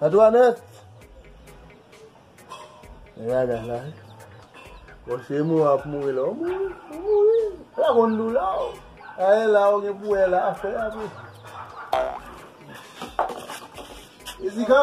Antoinette! Gen bagay la wi. Bon se mou ap mouri la. Ou mouri? Ou mouri? Ala konn dou la ou. A e la ou gen pou e la afè a tou. Jessica!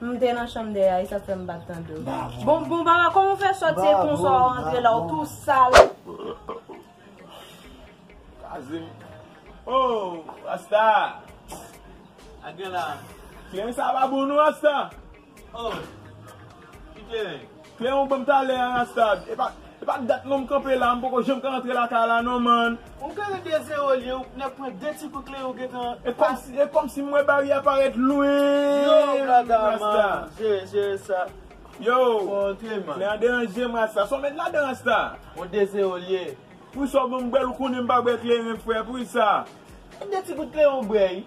M te nan chanm dèyè a e sa fè m pa t tande w. Bon Baba kòman w fè sòt se konsa w antre la w tou sal. Kraze m. Oh Rasta! Sa gen la? Kleren sa pa bon non Rasta. Oh! Ki kleren? Fè yon banm talè a Rastad. Epa epa dat non m kanpe la m poko janm ka antre lakay la non man. Ou klere 2 zero liye ou nèk pran 2 ti kout klere ou gentan pase. E kòmsi m wè bari a parèt lwen. Yo blada man jere jere sa. Yo lè a deranjem rasta. Sa w met ladan rasta. Bon 2 zero liye. Poukisa w banm bwèl ou konnen m pa bwè kleren frè poukisa. E 2 ti kout kleren ou bwè ui.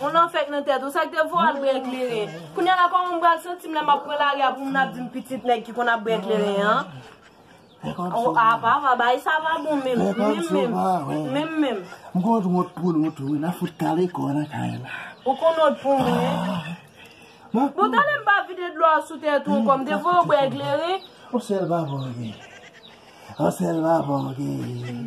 On nan fèk nan tèt ou, sak te voye al bren kleren? Kounya la kòman m pral santi m lè map pran lari a pou moun ap di m pitit nèg ki konn ap bren kleren an? A pa va, bagay sa va bon menm, menm menm, menm menm. M konn wont pou nou tou wi, nan fout kale kò nan kay la. Ou konn wont pou mwen wi. Bon tande m pa vide dlo a sou tèt ou ankò, m te voye w bren kleren? On sèl vava w gen, on sèl vava w gen.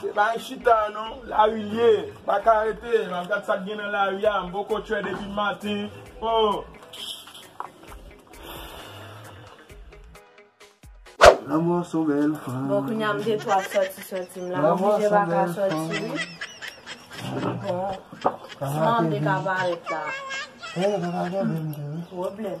Se pa yon chita non, lari l ye. M pa ka rete, m ap gad sa k gen nan lari a. M poko chwe depi maten. Bon kounye a m gen chwa ap soti soti m la. M oblije pa ka soti wi. Bon, san m te ka parèt la. Pwoblèm.